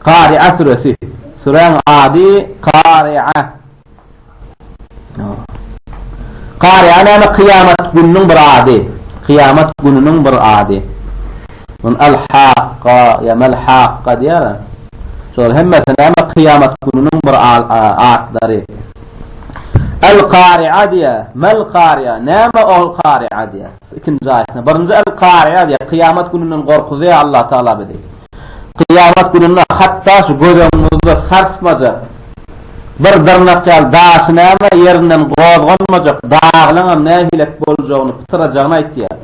Kari'a süresi. Süräň ady Kari'a. Kari'a näme? Kyýamat gününiň bir ady. Kyýamat gününiň bir ady. Mun al-Hakka ýa mal-Hakka diýýär. Şol hemmesi näme? Kyýamat gününiň bir atlary. Al-Kari'a diýýär. Mal-Kari'a. Näme ol Kari'a diýýär. Ikinji aýatyna. Birinji el Kariýa diýýär, Kyýamat gününden gorkuzýar Allah Tagala bizi. Kyýamat gününde hatda şu göz öňüňizde sarsmajak, bir dyrnak ýaly daşy näme ýerinden gozganmajak daglaňam nähilek boljagyny, pytyrajagyny aýtýar.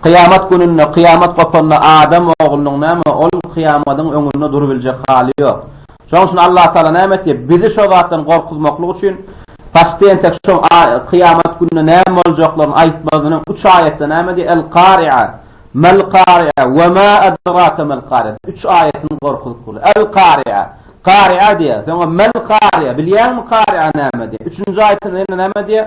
Kyýamat gününde, kyýamat gopanda adam oglunyň näme, ol kyýamadyň öňünde durubiljek haly ýok. Şonuň üçin Allatagala näme etdi? Bizi şo zatdan gorkuzmaklyk üçin paçdy entek şo kyýamat gününe näme boljaklaryny aýtmazynyň üç aýatda näme diýýär? El-Kari'a, Mel-Kari'a we ma edrake mel-Kari'a. Üç aýatyny gorkuzyp bolýar. El-Kari'a, Kari'a diýýär. Soňra Mel-Kari'a, bilýäňmi Kari'a näme diýýär? Üçünji aýatynda ýene näme diýýär?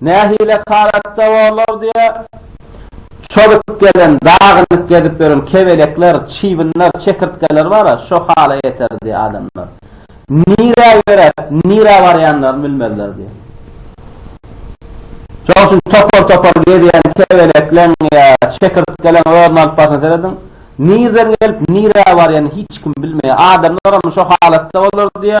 Nähili halatda bolar diýe, çozup gelen, dagynyk gezip ýören kebelekler, çybynlar, çekirtgeler bar-a, şo hala ýeter diýe adamlar. Nirä ýöräp, nirä barýanlaryny bilmezler diýe. Şonuň üçin topar-topar gezýän kebelekleň ýa çekirtkeleň özüni alyp barşyna serediň, nirden gelip, nirä barýanyny hiç kim bilmeýär. Adamlaram şo halatda bolar diýe,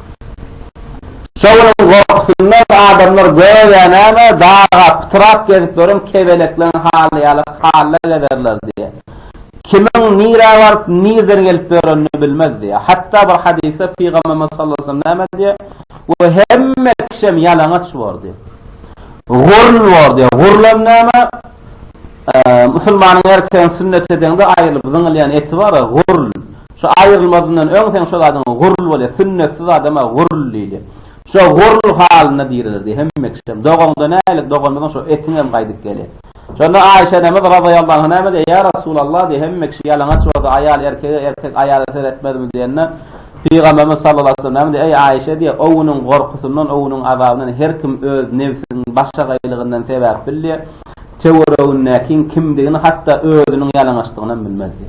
Şowunyň gorkusyndan adamlar göýä näme, daga pytrap gezip ýören kebelekleriň haly ýaly halla gezerler diýýär. Kimiň nirä baryp, nirden gelip ýörenini bilmez diýýär. Hatda bir hadysda Pygamberimiz sallallahu aleýhi we sellem näme diýýär? Bu hemme kişem ýalaňaç bor diýýär. Gurn bor diýýär. Gurn hem näme? Musulmanyň erkegiň sünnet edeňde aýrylyp zyňylýan eti bar-a, gurn. Şu aýrylmazyndan öň seň şo zadyňa gurul bolýa, sünnetsiz adama gurul diýdi. Şo gurul halynda diriler diýdi. Hemme kişem, Dogaňda nälik, doganymyzyň şo etiň hem gaýdyp geli. Şonda Aýşe enemiz razyýallahu anha näme diýdi? Ýa Resulallah diýdi, hemme kişi ýalaňaç bolsa, aýal erkege, erkek aýala seretmezmi diýende, Pygamberimiz sallallahu aleyhi ve sellem näme diýdi? Eý Aýşe diýdi, o günüň gorkusyndan, o günüň azabyndan her kim öz nebsiniň başagaýlygyndan sebäp bilýär. töweregindäkiň kimdigini hatda özüniň ýalaňaçdygynam bilmezdi.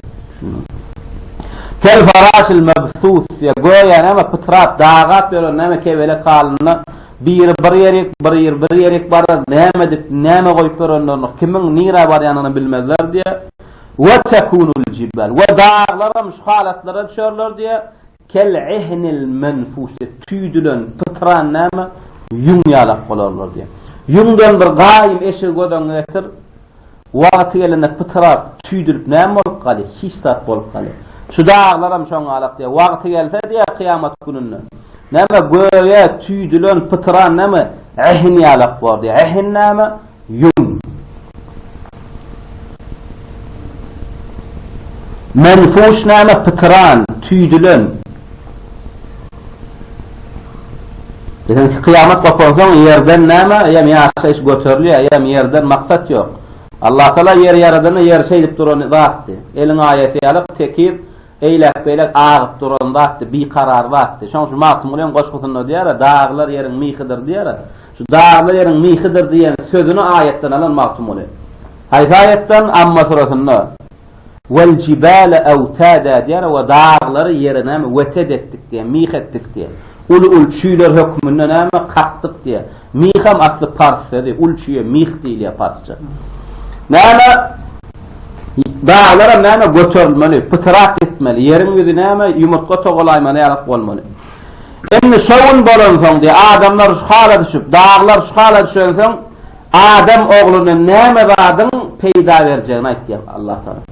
Kel-faraşil mebsus ýa göýä näme pytrap, dagap ýören näme kebelek halynda biri bir ýerik, biri bir ýerik barar, näme edip, näme goýup ýörenlerini, kimiň nirä barýanyny bilmezler diýýär. Wetekunul jibal we daglaram şu halatlara düşerler diýýär. Kel-ehnil menfuş diýip, tüýdülen, pytran näme, ýüň ýalak bolarlar diýip. Ýüňden bir gaýym eşigi göz öňüňe getir, wagty gelende pytrap, tüýdülip näme bolup galy, hiç zat bolup galy. Şu daglaram şoň ýalak diýip, wagty gelse diýip, kyýamat gününde, näme, göýä tüýdülen, pytran näme, ehn ýalak bor diýip. Ehn näme? Ýum. Menfuş näme pytyran, tüýdülen. Biziňki kyýamat gopansoň ýerden näme eýýäm ýaşaýyş göterilýär, eýýäm ýerden maksat ýok. Allatagala ýeri ýaradanda ýer şeýdip duran zatdy. Eliň aýasy ýaly tekiz Eýläk-beýläk agyp duran zatdy, bikarar zatdy. Şoň şu Magtymgulynyň goşgusynda diýer-ä, Daglar ýeriň mihidir diýer-ä. Şu Daglar ýeriň mihidir diýen sözüni aýatdan alan Magtymguly. Haýsy aýatdan? Amma suresinde, Weljibale ewtada diýer-ä we daglary ýere näme, weted etdik diýer, mih etdik diýer. Uly-uly çüýler hökmünde näme, kakdyk diýer. Miham asly pars sözi, ul çüýe mih diýilýär parsça. Näme daglaram näme göterilmeli, pytyrak etmeli, ýeriň ýüzi näme ýumurtga togalaýmaly ýalyk bolmaly. Indi şo gün bolansoň diýýär, adamlar şu hala düşüp, daglar şu hala düşensoň, adam ogluna näme zadyň peýda berjegini aýtýar Allatagala.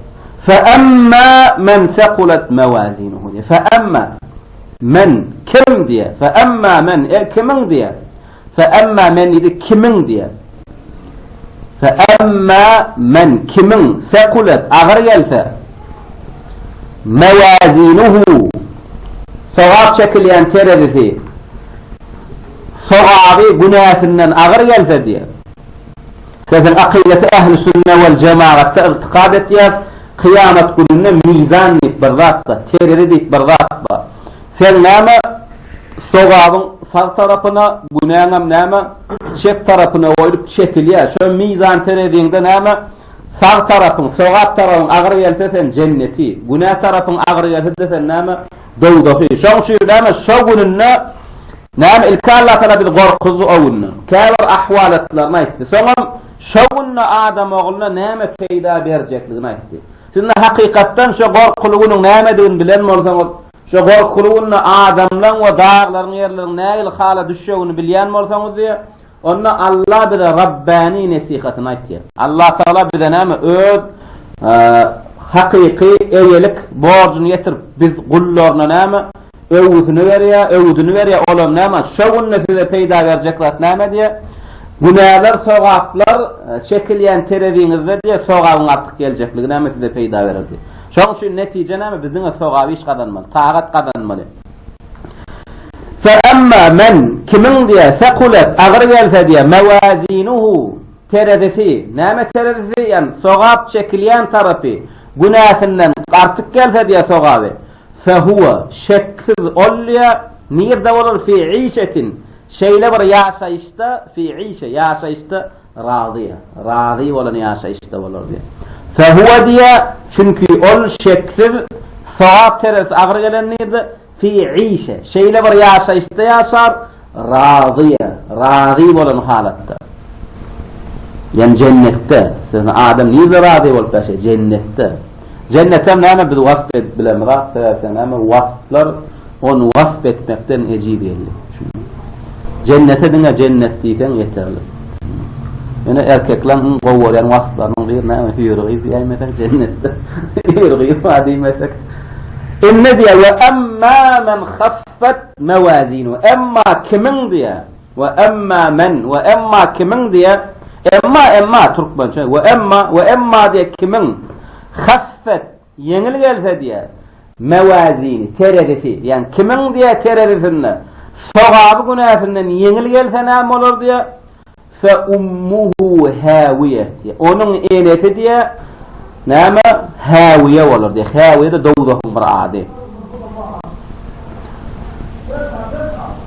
Fe emmâ men sekulet mewazinuhu diýýär. Fe emmâ Men, kimim diýýär. Fe emma men, er kimiň diýýär. Fe emma men diýdi, kimiň diýýär. Fe emma men, kimiň, sekulet, agyr gelse, mewazinuhu, sogap çekilýän terezisi, sogaby günäsinden agyr gelse diýýär. Sesiň akydasy ähli sünne wal jemagatda ygtykad etýäs kyýamat gününde mizan diýip bir zat bar terezi diýip bir zat bar sen näme sogabyň sag tarapyna günäňem näme çep tarapyna goýlup çekilýär şo mizan tereziňde näme sag tarapyň sogap tarapyň agyr gelse sen jenneti günä tarapyň agyr gelse de sen näme Dowzahy. Şoň üçin näme, şo gününde näme ilki Allatagala bizi gorkuzdy o günde. Käbir ahwalatlaryny aýtdy. Soňam şo günde adam ogluna näme peýda berjekligini aýtdy. Siz indi hakykatdan şo gorkuly günüň nämedigini bilen bolsaňyz, şo gorkuly günde adamlaň we daglaryň ýerleriň nähili hala düşjegini bilýän bolsaňyz diýýär, Onda Allah bize Rabbani nesihatyny aýtýar. Allah Tagala bize näme? Öz hakyky eýelik borjuny ýetirip, biz gullaryna näme? Öwgüsini berýär, öwüdini berýär. Ol hem näme? Şo günde size peýda berjek zat näme diýýär? Günäler, sogaplar çekilýän tereziňizde diýýär, sogabyň artyk geljekligi näme size peýda berer diýýär. Şonuň üçin netije näme? Biz diňe sogap iş gazanmaly, tagat gazanmaly. Fe emma men, kimiň, diýe, sekulet, agyr gelse, diýe, mewazinuhu, terezisi, näme terezisi, ýagny sogap çekilýän tarapy, günäsinden artyk gelse, diýe, sogaby, fe huwe, şeksiz ol, diýe, nirde bolar, fi işetin, şeýle bir ýaşaýyşda, fi işe, ýaşaýyşda, Razy, razy bolan ýaşaýyşda bolar diýýär. Fehuwe diýýär, çünki ol şeksiz sogap teresi agyr gelendirde, fi işe, şeýle bir ýaşaýyşda ýaşar, razy, razy bolan halatda. Ýani jennetde, ýöne adam nirede razy bolup ýaşaýar? Jennetde. Jennetem näme biz wasp edip bilemizak sebäpde näme wasplar ony wasp etmekden ejiz geldi. Jennete diňe jennet diýseň ýeterlik. Ýöne erkekleň iň gowy görýän wasplarynyň biri näme hüýr gyz diýäýmesek jennetde hüýr gyz bar diýmesek. Indi diýýär we emma men haffat mewazinuhu emma kimiň diýýär We emma men, we emma kimiň diýýär? Emma, emma, türkmençe, we emma, we emma diýýär kimiň, haffet, ýeňil gelse diýýär, mewazini, terezisi, ýagny kimiň diýýär terezisinde, sogaby günäsinden ýeňil gelse näme bolar diýýär, fe ummuhu hawiýe, diýýär, onuň enesi diýýär, Näme? Häwiýe bolar diýýär. Häwiýe-de dowzahyň bir ady.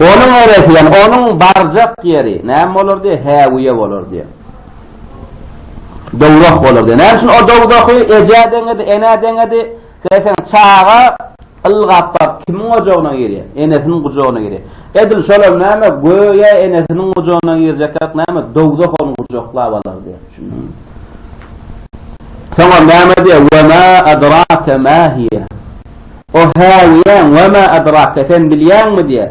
Onuň eresi, ýagny onuň barjak ýeri näme bolar diýýär? Häwiýe bolar diýýär. Dowzah bolar diýýär. Näme üçin o dowzahy ejä deňedi, enä deňedi? Seýseň, çaga Ylgap-bap kimiň ojagyna girýär? Enesiniň gujagyna girýär. Edil şolam näme, göýä enesiniň gujagyna girjekräk näme, dowzah ony gujaklap alar diýýär. Düşündiňizmi? Soňam näme diýýär, Ve ma adrake ma hiýe. O häwiýäň, ve ma adrake, sen bilýäňmi diýýär.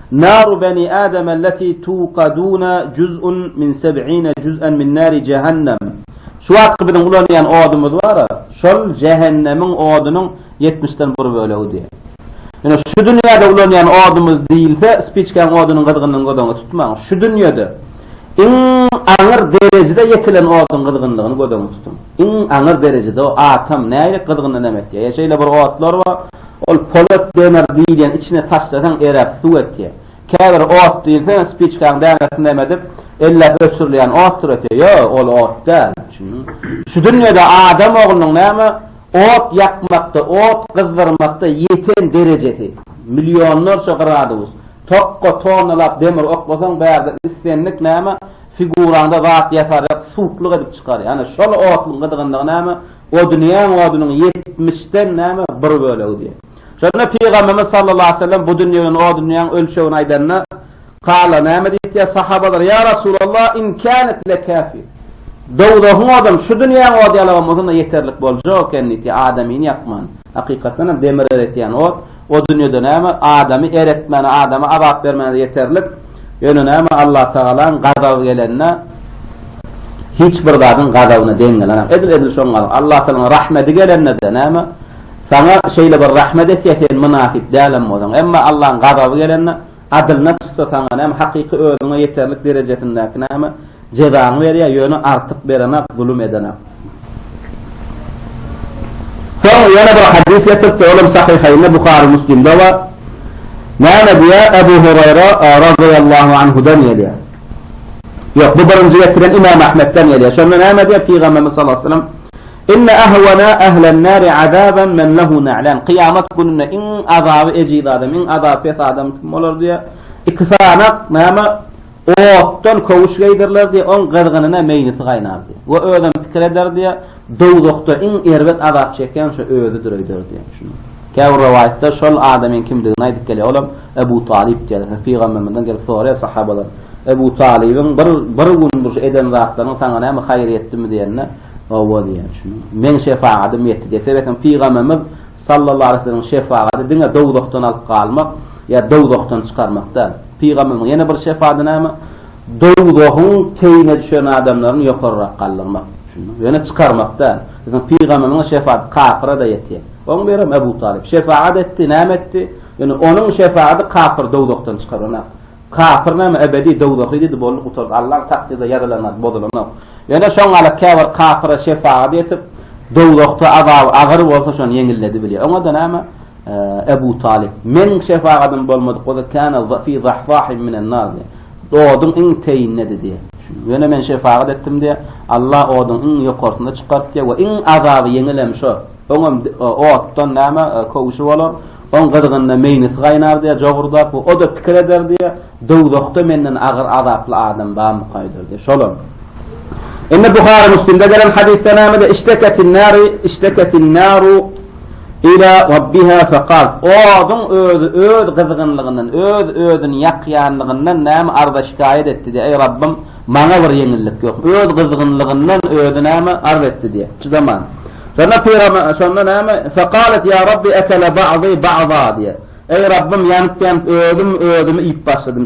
Naru beni Adem elleti tuqaduna juz'un min seb'ine juz'en min nari jehennem. Şu wagtky biziň ulanýan odumyz bar-a, şol jähennemiň odunyň ýetmişden bir bölegi diýýär. Ýöne şu dünýäde ulanýan odumyz diýilse, spiçkäň odunyň gyzgynyny göz öňünde tutmaň. Şu dünýede iň aňyr derejede ýetilen oduň gyzgynlygyny göz öňünde tutuň. Iň aňyr derejede o atom nähili gyzgyndan em etýär. Ýa şeýle bir otlar bar, Ol polat demir diýilýän içine taşlasaň erap suw etýär. Käbir ot diýilse spiçkaň dänesini näme edip elläp öçürilýän otdur etýär. Ýok, ol ot däl. Şu dünýede adam oglunyň näme ot ýakmakda, ot gyzdyrmakda ýeten derejesi, millionlarça gradus. Tokga tonnalap demir oklasaň bärde islendik näme figuraňda zat ýasarýar, suwuklyk edip çykarýar. Ana şol otuň gyzgynlygy näme Odunýaň odunyň ýetmişden näme bir bölegi diýen. Şonda Pygamberimiz sallallahu aleýhi we sellem bu dünýäň odunýaň ölçegini aýdanda, Kala näme diýipdiýer sahabalar, Ýa Rasulallah, in kanet lekafi. Dowzahyň odam şu dünýäň ody ýalagam bolsanda ýeterlik boljak eken diýipdiýer, adamyny ýakman. Hakykatdanam demir eretýän ot, O dünýede näme? Adamy eretmäne, adama azap bermäne ýeterlik. Ýöne näme, Allatagalaň gazaby gelende, hiç bir zadyň gazabyna deň gelenok. Edil, edil şoň galyň. Allatagalaň rahmeti gelende-de näme, saňa şeýle bir rahmet etýä, sen mynasyp dälem bolsaň. Emma Allaň gazaby gelende, Adylyna tutsa saňa näme, hakyky özüňe ýeterlik derejesindäki näme, jezaňy berýär, ýöne artyk berenak, zulum edenak. Soň ýene bir hadys getiripdir, ol hem Sahyhaýynda, Buhary, Müslimde bar. Näme diýýär, Ebu Huraýra razyýallahu anhudan gelýär. Ýok, bu birinji getiren Imam Ahmetden gelýär. Şonda näme diýýär Pygamberimiz sallallahu aleyhi ve sellem? Inne ahwana ahlen nari azaban men lehu na'lan, kyýamat gününde iň azaby ejiz adam, iň azaby pes adam kim bolar diýýär. Iki sany, näme, otdan köwüş geýdiriler diýýär, oň gyzgynyna meýnisi gaýnar diýýär. We özem pikir eder diýýär, Dowzahda iň erbet azap çekýän şo özüdir öýder diýýär. Şunuň. Käbir rowaýatda şol adamyň kimdigini aýdyp gelýär, olam Ebu Talyp diýýärler. Hä, pygamberimizden gelip soraýar sahabalar, Ebu Talybyň bir, bir gün bir şu eden zatlaryň saňa näme haýry ýetdimi diýende, Hawa diýýän şuny. Meň şefagadym ýetdi diýýär. Sebäpem Pygamberimiz sallallahu aleýhi weselemiň şefagaty diňe dowzahdan alyp galmak ýa dowzahdan çykarmak däl. Pygamberimiziň ýene bir şefady näme? Dowzahyň teýine düşen adamlaryny ýokarrak galdyrmak. Düşündiňmi? Ýöne çykarmak däl. Biziň Pygamberimiziň şefaty kapyra-da ýetýär. Oň birem Ebu Talyp şefagat etdi, näme etdi? Ýöne onuň şefagaty kapyry dowzahdan çykaranok. Kapyr näme ebedi dowzahy diýdi boldy gutardy Allaň takdyrda ýazylanat bozulanok ýöne şoň galyp käbir kapyra şefagat etip dowzahda azaby agyr bolsa şony ýeňilledi bilýär oňada näme Ebu Talyp meniň şefagadym bolmadyk bolsa kana fi zahzahim minen nar diýär oduň iň teýindedi diýär ýöne men şefagat etdim diýär Alla oduň iň ýokarsyna çykartdy we iň azaby ýeňilem şo oňam otdan näme köwşi bolar Oň gyzgynda meýnesi gaýnardy-ýa, jogurdap we o-da pikir ederdi-ýa, Dowzahda menden agyr azaply adam barmykaýdyr-diýip. Şolam. Indi Buhary, Müslimde gelen hadysda nämedir? Işteketin-nari, işteketin-naru ila Rabbiha faqalt. Oduň özi öz gyzgynlygyndan, öz-özüni ýakýanlygyndan näme arza-şikaýat etdi-de, Eý, Rabbym, Maňa bir ýeňillik ýok. Öz gyzgynlygyndan özi näme, arz etdi diýýär. Çydaman. Şonda pygamber, şonda näme, Fekalet ýa Rabbi ekele ba'zy ba'za diýýär. Eý Rabbym, ýanyp-ýanyp özüm özümi iýip başladym.